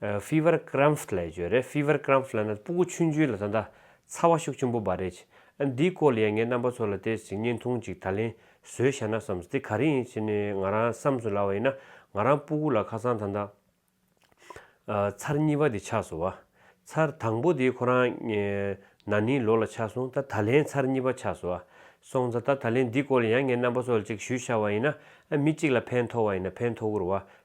Fever Cramps ལས་བརྗོད་རེད Fever Cramps ལ་ན་སྤུ་གུ་ཆུན་ཆུན་ལ་ད་ལྟ་ཚ་བ་ཤུགས་ཆེན་པོ་འབར་རེད། འདིའི་སྐོར་ལ་ཡང་ངའི་རྣམ་པ་ཚོ་ལ་བལྟས་ཟིན་བརྙན་ཐུང་ཅིག་ད་ལེན་བཟོས་བཞག་ན་བསམས་འདི་ག་རེ་ཡིན་ཟེར་ནས་ང་རང་བསམས་སུ་ལ་བ་ཡིན་ན་ང་རང་སྤུ་གུ་ལ་ཁ་སང་ད་ལྟ་ཚར་གཉིས་པ་དེ་ཆགས་སོང་བ། ཚར་དང་པོ་དེ་ཁོ་རང་ན་ནིང་ལོ་ལ་ཆགས་སོང་ད་ད་ལེན་ཚར་གཉིས་པ་ཆགས་སོང་བ། སོང་ཙ་ད་ད་ལེན་འདི་སྐོར་ལ་ཡང་ངའི་རྣམ་པ་ཚོ་ལ་ཅིག་ཞུས་བཞག་བ་ཡིན་ན་མི་གཅིག་ལ་ཕན་ཐོག་བ་ཡིན་ན་ཕན་ཐོག་གུར་བ་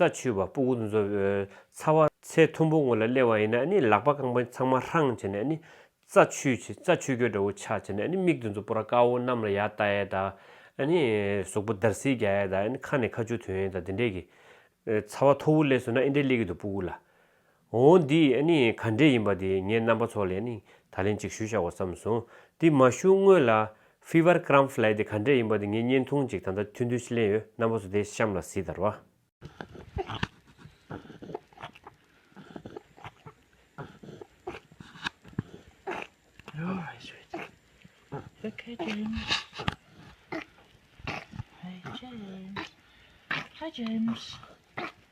རྩ་ཆུ་བ་སྤུ་གུ་མཛོ་ཚ་བ། ཚེ་ཐུམ་པོ་ངོ་ལ་སླེ་བ་ཡིན་ན་ལག་པ་རྐང་པ་ཚང་མ་ཧྲང་བྱས་ནས་རྩ་ཆུ་རྩ་ཆུ་གོས་དྲ་བོ་ཆག་བྱས་ནས་མིག་དུ་མཛོ་པོ་ར་དཀར་བོ་གནམ་ལ་ཡར་བལྟ་ཡས་དང་ཟུག་པོ་འདར་སིལ་རྒྱག་ཡས་དང་ཁ་ནས་ཁ་ཆུ་ཐོན་ཡས་དང་དེ་འདྲས་ཀྱི། ཚ་བ་ཐོར་བུ་སླེ་སོང་ན་ཨེ་འདྲས་སླེ་གི་འདུག་སྤུ་གུ་ལ། འོ་འདི་ནི་ག་འདྲས་ཡིན་པ་དེ་ངས་རྣམ་པ་ཚོ་ལས་ནི་ད་ལན་ཅིག་ཞུ་བཞག་གོ་བསམ་སོང་དེ་མ་ཞུ་སྔོན་ལ། Fever Kramph ལས་དེ་ག་འདྲས་ཡིན་པ་དེ་ངས་བརྙན་ཐུང་ཅིག་ད་ལྟ་མཐུན་འདུས་ཀླན་ཡོད་རྣམ་པ་ཚོ་དེ་གཤམ་ལ་གཟིགས་དར་བ།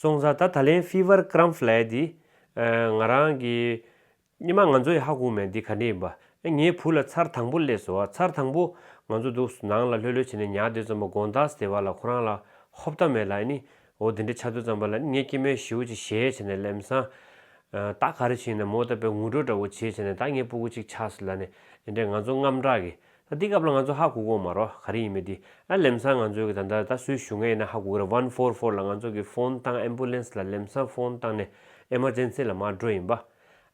སོང་ཟ་ད་ད་ལན Fever Cramp Flare འདི་ང་རང་གི་ཉི་མ་ང་ཚོ་ཡི་ཧ་གོ་མེད་འདི་ག་འདྲི་ཡིན་པ་ཨེ་ངའི་བུ་ལ་ཚར་དང་པོ་སླེ་སོ་ཨ་ཚར་དང་པོ་ང་ཚོ་འདུག་སོ་ནང་ལ་ལྷོད་ལྷོད་བྱས་ནས་ཉག་འདོད་ཙམ་པོ་དགོངས་དག་ཟེར་བ་ལ་ཁོ་རང་ལ་ཧོབ་ལྟ་མེད་ལ་ཨེ་ནི་འོ་འདི་འདྲི་ཆ་འདོད་ཙམ་པ་ལ་ཨེ་ངའི་སྐྱེད་མོས་བཞིའུ་ཅིག་ཞེས་བྱས་ནས་ལེམ་སང་ད་ག་རེ་བྱས་ཡིན་ནམ་མོ་ལྟ་པའི་ངུ་སྒྲོག་འདྲ་བོ་བྱས་བྱས་ནས་ད་ངའི་སྤུ་གུ་ཅིག་ཆགས་སོ་ལ་ནི་ཨེ་འདྲས་ང་ཚོ་རྔམ་དྲག་གི་ད་འདི་སྐབས་ལ་ང་ཚོ་ཧ་གོ་གོ་མ་རོགས་ག་རེ་ཡིན་མོད་འདི་ཨ་ལེམ་སང་ང་ཚོའི་གི་ད་ལྟ་ད་སུའི་ཞུ་ངེས་ཡིན་ན་ཧ་གོ་གི་རེད one four four ལ་ང་ཚོ་གི་ཕོན་བཏང Ambulance ལ་ལེམ་སང་ཕོན་བཏང་ནས Emergency ལ་མ་འགྲོ་ཡིན་པ་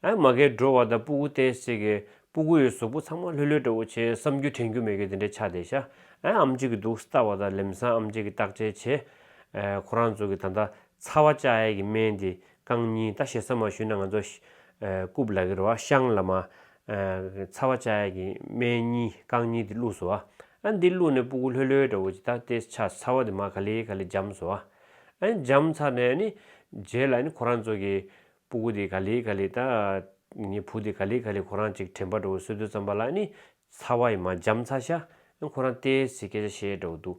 ཨ་མ་གས་འགྲོ་བ་ད་སྤུ་གུ་ཏེ་ཟེར་གི་སྤུ་གུ་ཡོད་ཟོག་པོ་ཚང་མ་ལྷོད་ལྷོད་འདྲ་བོ་བྱེད་བསམ་རྒྱུ་དྲན་རྒྱུ་མེད་གི་འདི་འདྲའི་ཆ་དེ་ཤ་ཨ་ཨམ་ཅིག་གི་འདུག་སྟ་བ་ད་ལེམ་སང་ཨམ་ཅིག་གི་བརྟག་དཔྱད་བྱེད་ཨ་ཁོ་རང་ཚོ་གི་ད་ད་ཚ་བ་བཅའ་ཡས་གི་སྨན་འདི་རྐང་གཉིས་ད་ཞེ་ས་མ་ཞུས་ན་ང་ཚོ། རྐུབ་ལག་གི་རོ་བ་ཤང་ལ་མ། ཚ་བ་ཅག་གི་སྨད་གཉིས་རྐང་གཉིས་དེ་བླུགས་སོ་ཨ། ཨ་འདི་བླུགས་ནས་སྤུ་གུ་ལྷོད་ལྷོད་འདྲ་བོ་ཅིག་ད་དེ་ཆ་ཚ་བ་དེ་མ་ག་ལེ་ག་ལེ་འཇམ་སོ་ཨ། ཨ་འཇམ་ཚར་ནས་ནི། རྗེས་ལ་ནི་ཁོ་རང་ཚོ་གི། སྤུ་གུ་དེ་ག་ལེ་ག་ལེ་ད། ངའི་བུ་དེ་ག་ལེ་ག་ལེ་ཁོ་རང་ཅིག་དྲན་པ་འདྲ་བོ་སོད་དུ་བརྩམས་པ་ལ་ནི། ཚ་བ་ཡི་མ་འཇམ་ཚར་ཤ། ཁོ་རང་ལྟས་ཟིག་སྐད་ཆ་བཤད་འདྲ་བོ་འདུག།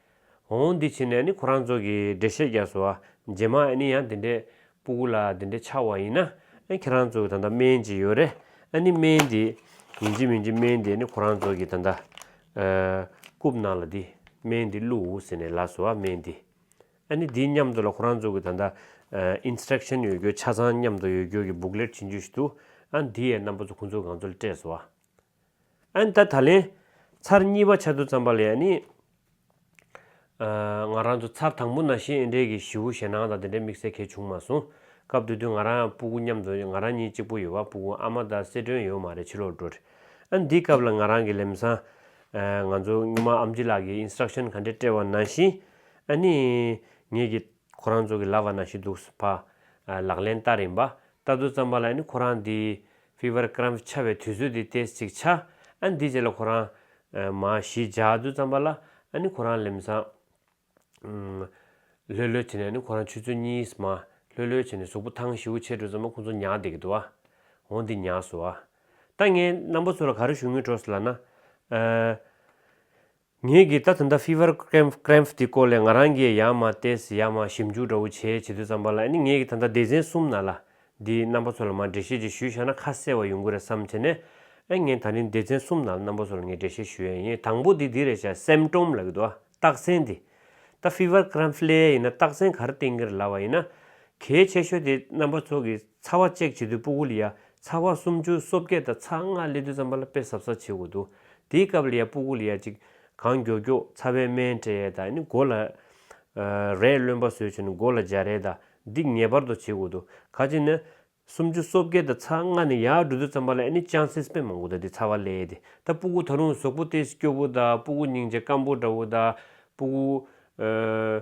འོང་འོང་འདི་བྱས་ནས་ནི་ཁོ་རང་ཚོ་གིས་འགྲེལ་བཤད་རྒྱག་སོ། རྗེས་མ་ཨ་ནི་ཡང་དེ་འདྲའི་སྤུ་གུ་ལ་དེ་འདྲའི་ཆགས་བ་ཡིན་ན། ཁྱེད་རང་ཚོ་གིས་ད་ལྟ་སྨན་གཅིག་ཡོད་རེད་ཨ་ནི་སྨན་འདི། ཡིན་གཅིག་མིན་གཅིག་སྨན་འདི་ནི་ཁོ་རང་ཚོ་གིས་ད་ལྟ། རྐུབ་ནང་ལ་འདི་སྨན་འདི་བླུག་ཟེར་ནས་ལབ་སོ་ཨ་སྨན་འདི། ཨ་ནི་འདིའི་མཉམ་དུ་ལ་ཁོ་རང་ཚོ་གིས་ད་ལྟ། Instruction ཡོད་རྒྱུ་ཆ་ཚང་མཉམ་དུ་ཡོད་རྒྱུ་གི booklet བྱིན་རྒྱུ་ཞིག་འདུག་ཨ་འདི་ཡའི་རྣམ་པ་ཚོ་ཁོ་ཚོ་གང་ཚོ་ལ་སྤྲད་སོ་ཨ། ཨན་ད་ད་ལན། ཚར་གཉིས་པ་ཆ་དུ་བརྩམས་པ་ལས་ཡ་ནི། ང་རང་ཚོ་ཚར་དང་པོ་ན་ཤེས་ཨེ་འབྲས་ཀྱི་བཞི་བོ་ཞེད་སྣང་དང་དེ་འདྲའི་དམིགས་བསལ་གལ་བྱུང་མ་སོང། སྐབས་དེ་དུས་ང་རང་ཡང་སྤུ་གུ་མཉམ་དུ་ང་རང་གཉིས་གཅིག་པོ་ཡོད་བ་སྤུ་གུ་ཨ་མ་ད་སེ་སྒྲོན་ཡོད་མ་རེད་ཕྱི་ལོག་འགྲོ། ཨན་འདི་སྐབས་ལ་ང་རང་གི་ལེམས་སང། ང་ཚོ་སྔོན་མ་ཨམ་ཅི་ལགས་ཀྱིས Instruction ག་འདྲས་སྤྲད་བ་ནང་བཞིན། ཨ་ནི། ངེད་ཀྱིས། ཁོ་རང་ཚོ་གི་ལབ་བ་ན་ཤི་འདུག་སུ་ཕ། ལག་ལེན་ལྟ་རིན་པ། ལྟ་ཚུལ་ཙམ་པ་ལ་ནི་ཁོ་རང་འདི། Fever Cramp ཆགས་པའི་དུས་ཚོད་དེ Test ཅིག་བྱ། ཨ་འདི་རྗེས་ལ་ཁོ་རང། མ། ཞི་འཇགས་ཚུལ་ཙམ་པ་ལ། ཨ་ནི་ཁོ་རང་ལེམས་སང། ལྷོད་ལྷོད་བྱས་ནས་ནི་ཁོ་རང་ཆུ་ཚོད་གཉིས་མ། ལྷོད་ལྷོད་བྱས་ནས་གཟུགས་པོ་ཐང་ཤིའུ་ཆེ་གྲུ་ཙམ་པ་ཁོང་ཚོ་ཉག་བསྡད་གི་འདུག་ཨ། འོ་འདི་ཉག་སུ་ཨ། ད་ངས་རྣམ་པ་ཚོ་ལ་ག་རེ་ཞུ་དངུལ་སྤྲོ་སི་ལ་ན། ངེད་ཀྱིས་ད་ཐུན་ད Fever Cramp དེ་སྐོར་ལས་ང་རང་གིས་ཡང་མ་བལྟས་ཡང་མ་ཞིབ་འཇུག་འདྲ་བོ་བྱས་བྱེད་དུས་བརྩམས་པ་ལ་ནི་ངེད་ཀྱིས་ད་ལྟ་སྡེ་ཚན་གསུམ་ན་ལ་འདིའི་རྣམ་པ་ཚོ་ལ་མར་འགྲེལ་བཤད་ཅིག་ཞུས་ཤག་ན་ཁ་གསལ་བ་ཡོང་གི་རེད་བསམ་བྱས་ནས་ཨེ་ངེད་ད་རིང་སྡེ་ཚན་གསུམ་ན་ལ་རྣམ་པ་ཚོ་ལ་ངས་འགྲེལ་བཤད་ཞུ་ཡ་ཡིན་དང་པོ་དེ་འདི་རེད་བྱས Symptom ལ་གི་དུ་རྟགས་མཚན་དེ་ད Fever Cramp ལྷའི་ཡིན་ན་རྟགས་མཚན་གར་བསྟན་གི་རེད་ལ་བ་ཡིན་ན་གལ་ཆེ་ཤོས་དེ་རྣམ་པ་ཚོ་གི་ཚ་བ་བཅད་བྱེད་དུད་སྤུ་ཀུ་ལི་ཡ་ཚ་བ་སུམ་ཅུ་སོ་བརྒྱད་དང་ཚ་ལྔ་སླེ་དུད་རྩམ་པ་ལ་དཔེ་ཟབ་ཟབ་བྱེད་དགོས་འདུག་དེའི་སྐབས་ལི་ཡ་སྤུ་ཀུ་ལི་ཡ་ཅིག་གང་མགྱོགས་མགྱོགས་ཚ་བའི་སྨན་སྤྲད་ཡས་དང་ནི་སྒོ་ལ་རས་རློན་པ་བཟོས་བྱུང་ནས་སྒོ་ལ་སྦྱར་ཡས་དང་འདི་ངེས་པར་དུ་བྱེད་དགོས་འདུག་ཁ་ཅིག་ནི་སུམ་ཅུ་སོ་བརྒྱད་དང་ཚ་ལྔ་ནི་ཡར་དྲུད་དུད་རྩམ་པ་ལ་ཡས་ནི་ཅང་སེ་སྤེན་མང་པོ་དང་དེ་ཚ་བ་སླེ་ཡས་དེ་ད་སྤུ་ཀུ་ད་རུང་ཟོག་པོ་སྟེ་སྐྱོ་བོ་དང་སྤུ་ཀུ་སྙིང་རྗེ་སྐམ་པོ་འདྲ་བོ་དང་སྤུ་ཀུ།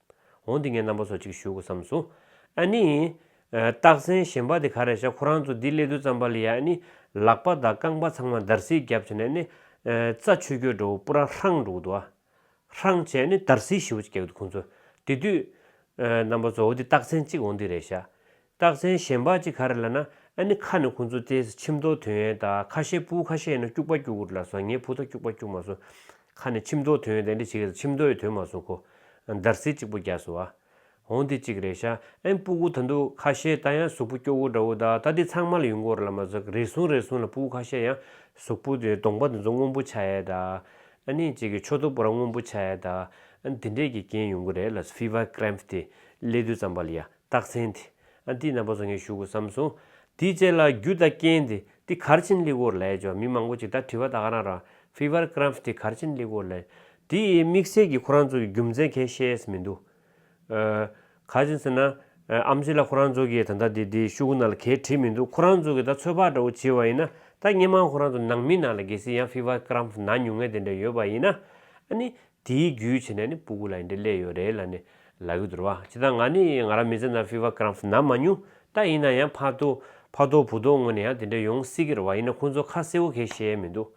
འོང་འདི་ངའི་རྣམ་པ་སོ་གཅིག་བཞུགས་བསམས་སོ། ཨ་ནི། སྟག་བཙན་གཞན་པ་དེ་ག་རེ་བྱ་ཁོ་རང་ཚོ་འདི་སླེ་དུས་རྩམ་པ་ལི་ཡ་ཨ་ནི། ལག་པ་དང་རྐང་པ་ཚང་མ་འདར་སིག་བརྒྱབ་བྱས་ནས་ཨ་ནི། རྩ་ཆུ་སྐྱོད་འགྲོ་བོ་པུ་ར་ཧྲང་འགྲོ་གི་འདུག་ཨ། ཧྲང་བྱས་ཨ་ནི་འདར་སིག་ཞིབ་བོ་ཅིག་རྒྱག་གི་འདུག་ཁོང་ཚོས། དེ་དུས། རྣམ་པ་གཙོ་བོ་འདི་སྟག་བཙན་གཅིག་འོང་འདི་རེད་བྱ། རྟགས་མཚན་གཞན་པ་ཅི་ག་རེ་ལ་ན་ཨ་ནི་ཁ་ནི་ཁོང་ཚོ་ཏེ་ཆིམ་མདོག་དོན་ཡོད་ད་ཁ་ཤེས་སྤུ་ཁ་ཤེས་ཡིན་ན་སྐྱུག་པ་སྐྱུག་གུར་ལ་ཟ་ངའི་བུ་ད་སྐྱུག་པ་སྐྱུག་མ་སོང་ཁ་ནི་ཆིམ་མདོག་དོན་ཡོད་ད་འདི་བྱེད་ཀྱི་ཆིམ་མདོག་ཡི་དོན་མ་སོང་ཁོ་འདར་སིལ་གཅིག་པོ་རྒྱག་སོང་ཨ་འོང་འདི་གཅིག་རེད་ཤ་ཨན་སྤུ་གུ་ད་འདུག་ཁ་ཤེས་ད་ཡང་གཟུགས་པོ་སྐྱོ་བོ་འདྲ་བོ་ད་ད་འདི་ཚང་མ་ལ་ཡུལ་འགོར་ལ་མ་ཟོག་རེ་ཟུང་རེ་ཟུང་ལ་སྤུ་ཁ་ཤེས་ཡང་གཟུགས་པོ་དེ་གདོང་པ་དེ་ཚོ་སྔོན་པོ་ཆགས་ཡས་ད་ཨ་ནི་བྱེད་ཀྱི་ཆོ་ཐོ་པོ་ར་སྔོན་པོ་ཆགས་ཡས་ད་ཨན་འདི་འདྲས་ཀྱི་རྐྱེན་ཡོང་གི་རེད་ལ་ཕི་བ་ཀྲེམ་ཏི་ཀླད་དུ་ཙམ་པ་ལ་ཡ། རྟགས་མཚན་དེ་ཨ་ཏི་ན་བོ་ས་ངས་བཞུགས་དགོས་བསམ་སོང། དེའི་རྗེས་ལ་རྒྱུ་དང་རྐྱེན་དེ་དེ་གར་ཕྱིན་ལི་གོར་ལའི་ཇོ་མི་མང་པོ་ཅིག་ད་དྲི་བ་ད་ག་རང་རང Fever Cramps དེ་གར་ཕྱིན་ལི་གོར་ལའི་དེ་ཡི་དམིགས་བསལ་གྱི་ཁོ་རང་ཚོ་གི་རྒྱུ་མཚན་གས་ཤེས་ཨེས་མི་འདུག་ག་ཅིན་ཟེར་ན་ཨམ་གཞི་ལ་ཁོ་རང་ཚོ་གི་ད་ད་དེ་དེ་ཤུ་གུ་ན་ལ་གས་དྲིས་མི་འདུག་ཁོ་རང་ཚོ་གི་ད་ཚོད་དཔག་འདྲ་བོ་བྱེད་པ་ཡིན་ན་ད་སྙན་མང་ཁོ་རང་ཚོ་ནང་མི་ནང་ལ་གས་སྲིད་ཡང Fever Cramps ན་ཉུང་ངད་དེ་འདྲ་ཡོད་པ་ཡིན་ན་ཨ་ནི་དེའི་རྒྱུའི་ཆེད་ནས་ནི་སྤུ་གུ་ལ་ཡིན་འདྲེ་ལས་ཡོད་རེད་ལ་ནི་ལབ་ཡོད་འདུར་བ་སྤྱི་ད་ང་ནི་ང་རང་མི་ཚེ་ན Fever Cramp ན་མ་མྱོང་ད་ཡིན་ན་ཡང་ཕ་དོ་ཕ་རྡོ་བུ་རྡོ་ངོ་ནས་ཡང་དེ་འདྲ་ཡོང་སྲིད་ཀྱི་རེད་བ་ཡིན་ན་ཁོང་ཚོ་ཁ་གསལ་བོ་གས་བཤད་ཡས་མི་འདུག་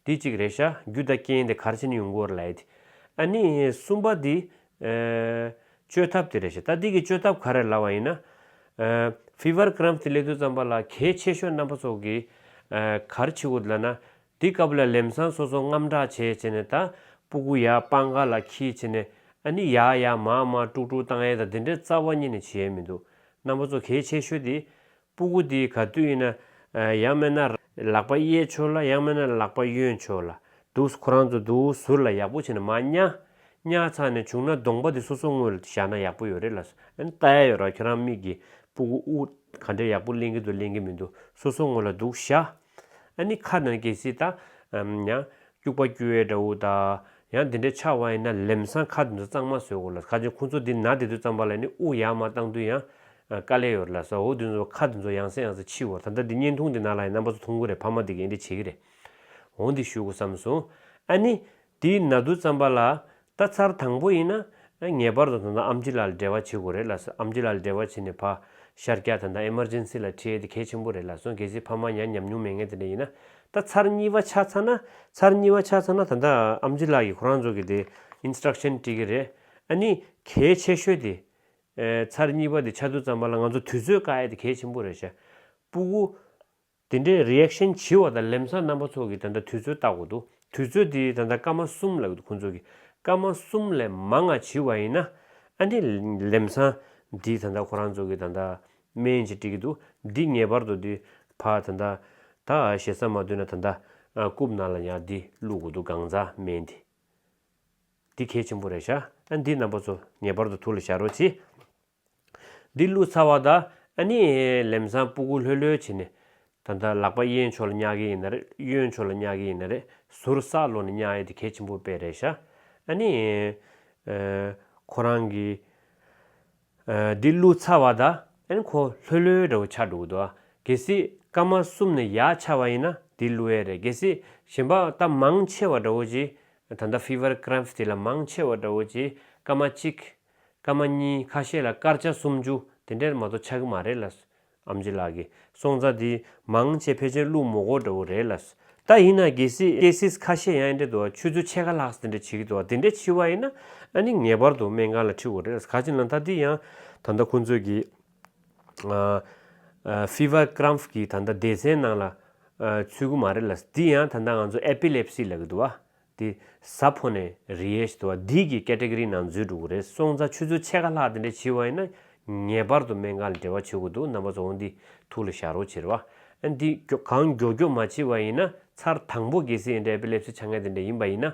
འདི་གཅིག་རེད་ཤ་རྒྱུ་ད་རྐྱེན་དེ་གར་ཕྱིན་ཡོང་གི་འོར་ལས་དེ་ཨ་ནི་གསུམ་པ་དེ་ཨེ་བཅོས་ཐབས་དེ་རེད་ཤ་ད་དེ་གི་བཅོས་ཐབས་ག་རེ་ལབ་བ་ཡིན་ན་ཨེ Fever Cramp དེ་སླེབས་དུས་ཙམ་པ་ལ་གས་ཆེ་ཤོས་རྣམ་པ་ཚོ་གས་གར་ཕྱི་གོ་དེ་ལ་ན་དེ་སྐབས་ལ་ལེམ་སང་སོ་སོ་རྔམ་དྲག་བྱས་བྱས་ནས་ད་སྤུ་གུ་ཡ་སྤང་ག་ལ་ཁྱི་བྱས་ནས་ཨ་ནི་ཡ་ཡ་མ་མ་ཀྲུག་ཀྲུག་བཏང་ཨེ་ད་དེ་འདྲའི་རྩ་བ་གཉིས་ནས་བྱེད་ཡས་མི་འདུག་རྣམ་པ་ཚོ་གལ་ཆེ་ཤོས་དེ་སྤུ་གུ་དེ་ག་དུས་ཡིན་ན་ཡང་མེད་ན་ལག་པ་གཡས་ཆོད་ལ་ཡང་མེད་ན་ལག་པ་གཡོན་ཆོད་ལ་འདུག་ཁོ་རང་ཚོ་འདུག་ཟུར་ལ་ཡག་པོ་བྱས་ན་མ་ཉག་ཉག་ཚང་ནས་བྱུང་ན་གདོང་པ་དེ་སོ་སོ་དངུལ་བཞག་ན་ཡག་པོ་ཡོད་རེད་ལ་ཨ་ནི་ལྟ་ཡ་ཡོད་ར་ཁྱོད་རང་མིག་གི་སྤུ་གུ་དབུ་ག་འདྲའི་ཡག་པོ་གླེང་གི་འདུག་གླེང་གི་མི་འདུག་སོ་སོ་དངུལ་ལ་འདུག་བཞག། ཨ་ནི་ཁ་ནང་གི་སི་ཏཱ། ཡང། སྐྱུག་པ་སྐྱུ་བའི་སྒྲ་འུ་ཏཱ། ཡང་འདི་འདྲའི་ཆ་དབང་ཡིན་ན་ལེམ་སང་ཁ་དེ་ཚོ་གཙང་མ་བཟོས་དགོས་ལ་ཁ་ཆེན་ཁུ་ཚོ་འདི་ནག་དེ་ཚོའི་གཙང་པ་ལ་ནི་དབུགས་ཡག་མ་བཏང་དུས་ཡང། དཀའ་ལས་ཡོད་རེད་ལ་ཟ་འོ་དེ་ཚོ་ཁ་དེ་ཚོ་ཡང་ཟེ་ཡང་ཟེ་འཆི་འོ་ད་ལྟ་འདི་བརྙན་ཐུང་འདི་ནང་ལ་ཡང་རྣམ་པ་ཚོ་མཐོང་གི་རེད་ཕ་མ་དེ་གས་འདི་བྱེད་ཀྱི་རེད། འོ་འདི་ཞུ་དགོས་བསམ་སོང། ཨ་ནི། དེ་ན་བསྡུ་བརྩམས་པ་ལ་ལྟ་ཚར་དང་པོ་ཡིན་ན་ངེས་པར་དུ་ད་ལྟ་ཨམ་ཅི་ལ་ལ་འབྲེལ་བ་བྱེད་དགོས་རེད་ལགས་སོ་ཨམ་ཅི་ལ་ལ་འབྲེལ་བ་བྱས་ནས་ཕ་ཤར་སྐྱ་ད་ལྟ Emergency ལ་ཁྲིད་ཡས་དེ་གལ་ཆེན་པོ་རེད་ལགས་སོ་གལ་སྲིད་ཕ་མ་ཡང་ཉམས་མྱོང་མེད་མཁན་དེ་འདྲ་ཡིན་ན་ད་ཚར་གཉིས་པ་ཆགས་ཚར་ན་ཚར་གཉིས་པ་ཆགས་ཚར་ན་ད་ལྟ་ཨམ་ཅི་ལགས་ཀྱིས་ཁོ་རང་ཚོ་གི་དེ Instruction བཀྲིས་ཀྱི་རེད་ཨ་ནི་གལ་ཆེ་ཤོས་དེ་ཚར་གཉིས་པ་དེ་ཆ་བསྡུ་བརྩམས་པ་ལ་ང་ཚོ་དུས་ཚོད་བཀག་ཡས་དེ་གལ་ཆེན་པོ་རེད་ཤ་སྤུ་གུ། དེ་འདྲའི Reaction བྱི་བ་དང་ལེམ་སང་རྣམ་པ་ཚོགས་ཀྱི་ད་ལྟ་དུས་ཚོད་བརྟག་དགོས་འདུག་དུས་ཚོད་དེ་ད་ལྟ་སྐར་མ་གསུམ་ལ་ཁོང་ཚོ་གི་སྐར་མ་གསུམ་ལས་མང་ང་བྱི་བ་ཡིན་ན་ཨ་ནི་ལེམ་སང་འདི་ད་ལྟ་ཁོ་རང་ཚོ་གི་ད་ལྟ་སྨན་ཅིག་བཀྲི་གི་འདུག་འདི་ངེས་པར་དུ་འདི་ཕ་ད་ལྟ་ད་ཞེ་ས་མ་བཏོན་ན་ད་ལྟ་རྐུབ་ན་ལ་ཉག་འདི་བླུག་དགོས་འདུག་གང་ཟག་སྨན་འདི་འདི་གལ་ཆེན་པོ་རེད་ཤག་ཨ་འདི་རྣམ་པ་ཚོ་ངེས་པར་དུ་ཐུགས་ལ་བཞག་རོགས་བྱི། འདི་བླུགས་ཚར་བ་དང་ཨ་ནི་ལེམ་སང་སྤུ་གུ་ལྷོད་ལྷོད་བྱེད་ནས། ད་ལྟ་ལག་པ་གཡས་མཆོག་ལ་བསྙག་གི་ཡིན་ན་རེད་གཡོན་མཆོག་ལ་བསྙག་གི་ཡིན་ན་རེད་ཟུར་ཟ་ལོ་ནས་བསྙག་ཡ་དེ་གལ་ཆེན་པོ་དཔེ་རེད་ཤག་ཨ་ནི། ཁོ་རང་གི། འདི་བླུགས་ཚར་བ་དང་ཨ་ནི་ཁོ་ལྷོད་ལྷོད་འདྲ་བོ་ཆགས་འདུག་དོ་གལ་སྲིད་སྐར་མ་གསུམ་ནས་ཡག་ཆགས་བ་ཡིན་ན་འདི་བླུགས་ཡས་རེད་གལ་སྲིད་ཞེན་པ་ད་མང་ཆེ་བ་འདྲ་བོ་གྱིས་ད་ལྟ Fever Cramp དེ་ལ་མང་ཆེ་བ་འདྲ་བོ་གྱིས་སྐར་མ་གཅིག་སྐར་མ་གཉིས་ཁ་ཤས་ལ་སྐར་ཆ་སུམ་ཅུ་དེ་འདྲས་མ་གཏོགས་ཆགས་ཀྱི་མ་རེད་ལ། ཨམ་ཅི་ལགས་ཀྱི་སོང་རྩ་དེ་མང་ཆེ་ཕལ་ཆེར་ཀླུ་མོ་གོ་འདྲ་བོ་རེད་ལ། ད་ཡིན་ན་གལ་སྲིད cases ཁ་ཤས་ཡང་འདྲས་འདུག་ཆུ་ཚོད་ཕྱེད་ཀ་ལྷག་དེ་འདྲས་བྱེད་ཀྱི་འདུག་དེ་འདྲས་འཆི་བ་ཡིན་ན་ནི་ངེས་པར་དུ་སྨན་ཁང་ལ་འཁྲིད་དགོས་རེད་ལ་ག་ཅིག་ན་ད་དེ་ཡང་ད་ལྟ་ཁོང་ཚོས་ཀྱི fever cramp གི་ད་ལྟ་སྡེ་ཚན་ནང་ལ་ཚུད་ཀྱི་མ་རེད་ལ་དེ་ཡང་ད་ལྟ་ང་ཚོ epilepsy ལབ་ཀྱི་འདུག་བ། དེ་ཟ་ཕོ་ནས་རེས་དུ་བ་འདིས་ཀྱི category ནང་འཛུལ་འགྲོ་གི་རེད་སོང་ཙང་ཆུ་ཚོད་ཕྱེད་ཀ་ལྷག་དེ་འདྲ་བྱིས་བ་ཡིན་ན་ངེས་པར་དུ་སྨན་ཁང་ལ་འབྲེལ་བ་བྱེད་དགོས་འདུག་རྣམ་པ་ཚོ་འོ་འདི་ཐུགས་ལ་བཞག་རོགས་བྱེད་རོགས་ཨ་འདི་གང་མགྱོགས་མགྱོགས་མ་བྱེད་པ་ཡིན་ན་ཚར་དང་པོ་གེ་སེའི་འདྲ་ཨེ་པེ་ལེབ་སི་ཆ་ངན་དེ་འདྲ་ཡིན་པ་ཡིན་ན་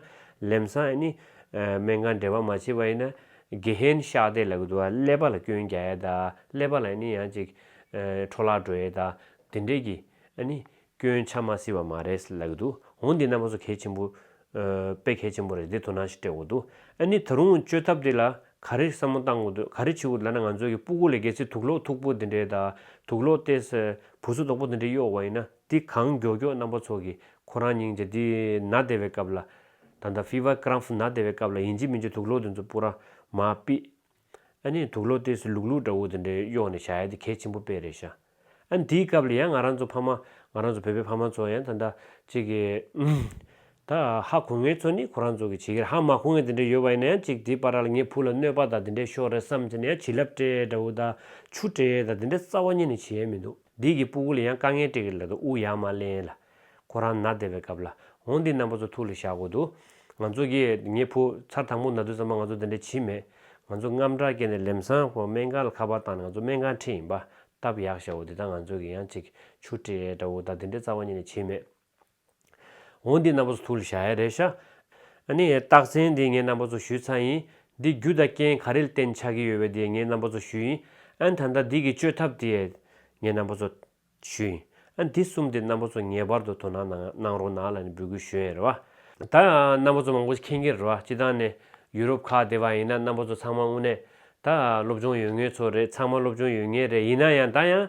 ལེམ་སང་ཨེ་ནི་སྨན་ཁང་འབྲེལ་བ་མ་བྱེད་པ་ཡིན་ན་དགེ་ཧེན་ཤག་དེ་ལ་གི་དུ་བ་ཀླད་པ་ལ་སྐྱོན་རྒྱག་ཨེ་ད་ཀླད་པ་ལ་ཨེ་ནི་ཡང་ཅིག་འཕྲོ་བརླག་འགྲོ་ཨེ་ད་དེ་འདྲས་གི་ཨེ་ནི་སྐྱོན་ཆ་མ་སེལ་བ་མ་རེད་ལབ་གི་འདུག་འོང་འདི་རྣམ་པ་ཚོ་གལ་ཆེན་པོ། དཔེ་གལ་ཆེན་པོ་རེད་འདི་དོ་སྣང་ཞིག་སྤྲད་དགོས་འདུག་ཨ་ནི་ད་རུང་བཅོས་ཐབས་དེ་ལ་ག་རེ་བསམ་བློ་གཏང་དགོས་འདུག་ག་རེ་བྱེད་དགོས་འདུག་ད་ནི་ང་ཚོ་གི་སྤུ་གུ་ལས་བརྒལ་ཚེ་དུག་ལོག་འཐུག་པོ་འདི་འདྲའི་དང་དུག་ལོག་ལྟས་ས་བུ་སོ་དོག་པོ་འདི་འདྲའི་གཡོག་བ་ཡིན་ན་འདི་གང་མགྱོགས་མགྱོགས་རྣམ་པ་ཚོ་གི་ཁོ་རང་སྙིང་རྗེ་འདི་ན་བདེ་བའི་སྐབས་ལ། ད་ད Fever Cramp ན་བདེ་བའི་སྐབས་ལ་ཡིན་གཅིག་མིན་གཅིག་དུག་ལོག་འདི་ཚོ་སྤུ་ར་མ་པིས། ཨ་ནེ་དུག་ལོ་ལྟས་སུ་ལུག་ལུག་འདྲ་བོ་དེ་འདྲའི་གཡོག་ནས་བྱ་ཡ་དེ་གལ་ཆེན་པོ་དཔེ་རེད་ཤ། ཨ་ནེ་དེའི་སྐབས་ལ་ཡང་ང་རང་ཚོ་ཕ་མ། ང་རང་ཚོ་བོད་པའི་ཕ་མ་ཚོ་ཡང་ད་ལྟ། ཅིག་གི། ད་ཧ་གོ་ངེས་ཚོ་ནི་ཁོ་རང་ཚོ་གི་བྱེད་ཀྱིར་ཧ་མ་གོ་ངེས་དེ་འདྲ་ཡོད་པ་ཡིན་ན་ཡང་ཅིག་དེའི་པར་ར་ལ་ངའི་བུ་ལ་གནོད་པ་དང་དེ་འདྲའི་ཤོག་རེ་བསམ་ཚེ་ནི་ཡང་བྱིས་རླབས་སྤྲས་འདྲ་བོ་དང་ཆུ་སྤྲས་དང་དེ་འདྲའི་རྩ་བ་ཉིད་ནས་བྱེད་ཡ་མི་འདུག་འདིས་གི་སྤུ་གུ་ལ་ཡང་དཀའ་ངལ་སྤྲད་ཀྱིར་ལ་དུ་དབུགས་ཡག་མ་ལེན་ལ། ཁོ་རང་ནག་བསྡད་པའི་སྐབས་ལ་འོང་དེའི་རྣམ་པ་ཚོ་ཐུགས་ལ་བཞག་དགོས་འདུག་ང་ཚོ་གིས་ངའི་བུ་ཚར་དང་པོ་ནག་དུས་ཚང་མ་ང་ཚོ་འདི་འདྲ་བྱས་མེད་ང་ཚོ་རྔམ་སྐྲག་སྐྱེས་ནས་ལེམ་སང་ཁོང་སྨན་ཁང་ལ་ཁ་པར་བཏང་ནས་ང་ཚོ་སྨན་ཁང་འཁྲིད་ཡིན་པ་སྟབས་ཡག་ཤ་བོ་འདི་དག་ང་ཚོ་གིས་ཡང་ཅིག་ཆུ་སྤྲེལ་ཡས་འདྲ་བོ་དག་འདི་འདྲའི་རྩ་བ་ཉིད་ནས་བྱས་མེད་འོང་དེའི་རྣམ་པ་ཚོ་ཐུགས་ལ་བཞག་ཡ་རེད་ཤ། ཨ་ནི་རྟགས་མཚན་འདི་ངའི་རྣམ་པ་ཚོ་ཞུས་ཚར་ཡིན་འདི་རྒྱུ་དང་རྐྱེན་ག་རེ་ལ་བརྟེན་ཆགས་ཀྱི་ཡོད་བས་དེ་ངའི་རྣམ་པ་ཚོ་ཞུས་ཡིན་ཨན་ད་ལྟ་འདི་གི་བཅོས་ཐབས་དེ་ཡས་ངའི་རྣམ་པ་ཚོ། ཞུས། ཨ་འདི་གསུམ་དེ་རྣམ་པ་ཚོ་ངེས་པར་དུ་དོ་སྣང་ནང་གནང་རོགས་གནང་ལ་ནི་འབོད་སྐུལ་ཞུ་ཡས་རེད་བ། ད་རྣམ་པ་ཚོ་མང་པོ་ཞིག་ཁེངས་ཀྱི་རེད་བ་སྤྱི་བཏང་ནས་ཡུ་རོབ་ཁག་དེ་བ་ཡིན་ན་རྣམ་པ་ཚོ་ཚང་མ་དངོས་གནས་ད་སློབ་སྦྱོང་ཡོད་ངེས་ཚོ་རེད་ཚང་མ་སློབ་སྦྱོང་ཡོད་ངེས་རེད་ཡིན་ན་ཡང་ད་ཡང།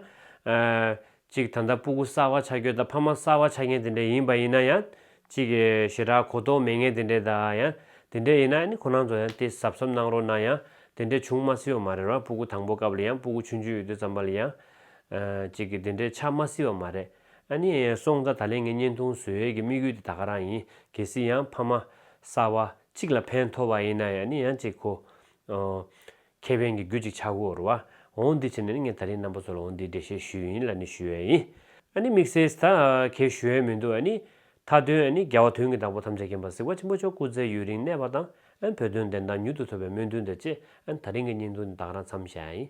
ཅིག་ད་ལྟ་སྤུ་གུ་གསར་བ་ཆགས་རྒྱུ་དང་ཕ་མ་གསར་བ་ཆགས་མཁན་དེ་འདྲས་ཡིན་པ་ཡིན་ན་ཡང། ཅིག་ཞེ་དྲག་གོ་རྟོགས་མེད་མཁན་དེ་འདྲས་ད་ཡང་དེ་འདྲས་ཡིན་ན་ནི་ཁོ་རང་ཚོ་ཡང་དེ་ཟབ་ཟབ་གནང་རོགས་གནང་ཡང་དེ་འདྲས་བྱུང་མ་སྲིད་བ་མ་རེད་བ་སྤུ་གུ་དང་པོ་སྐབས་ལ་ཡང་སྤུ་གུ་ཆུང་ཆུང་ཡོད་དུས་ཙམ་པ་ལ་ཡང། ཅིག་གིས་འདི་འདྲའི་ཆ་མ་བསིལ་བ་མ་རེད། ཨ་ནི། སོང་ཙང་ད་ལན་ངའི་བརྙན་ཐུང་བཟོས་ཡས་ཀྱི་དམིགས་ཡུལ་དེ་ད་ག་རང་ཡིན། གལ་སྲིད་ཡང་ཕ་མ། གསར་བ། གཅིག་ལ་ཕན་ཐོགས་པ་ཡིན་ན་ཡང་ནི་ཡང་ཅིག་གོ། ཨོ། ཁྱེད་ཕན་གྱི་རྒྱུ་ཅིག་ཆགས་དགོས་རུ་བ། འོང་འདི་བྱས་ནས་ནི་ངས་ད་རིང་རྣམ་པ་ཚོ་ལ་འོང་འདིའི་འགྲེལ་བཤད་ཞུས་ཡིན་ལ་ནི་ཞུས་ཡས་ཡིན། ཨ་ནི་དམིགས་བསལ་ད་གས་ཞུ་ཡས་མི་འདུག་ཨ་ནི། མཐའ་དོན་ཨ་ནི་རྒྱལ་བ་དོན་གྱི་བདག་པོ་ཐམས་ཅད་མཁྱེན་པ་གཟིགས་བ་ཆེན་པོ་མཆོག་སྐུ་ཚེ་ཡུན་རིང་གནས་པ་དང་ཨ་ནི་བོད་དོན་བདེན་མཐའ་མྱུར་དུ་ཐོབ་པའི་སྨོན་འདུན་དང་བཅས་ཨ་ནི་ད་རིང་གི་བརྙན་ཐུང་འདི་ད་ག་རང་འཚམས་བཞག་ཡ་ཡིན།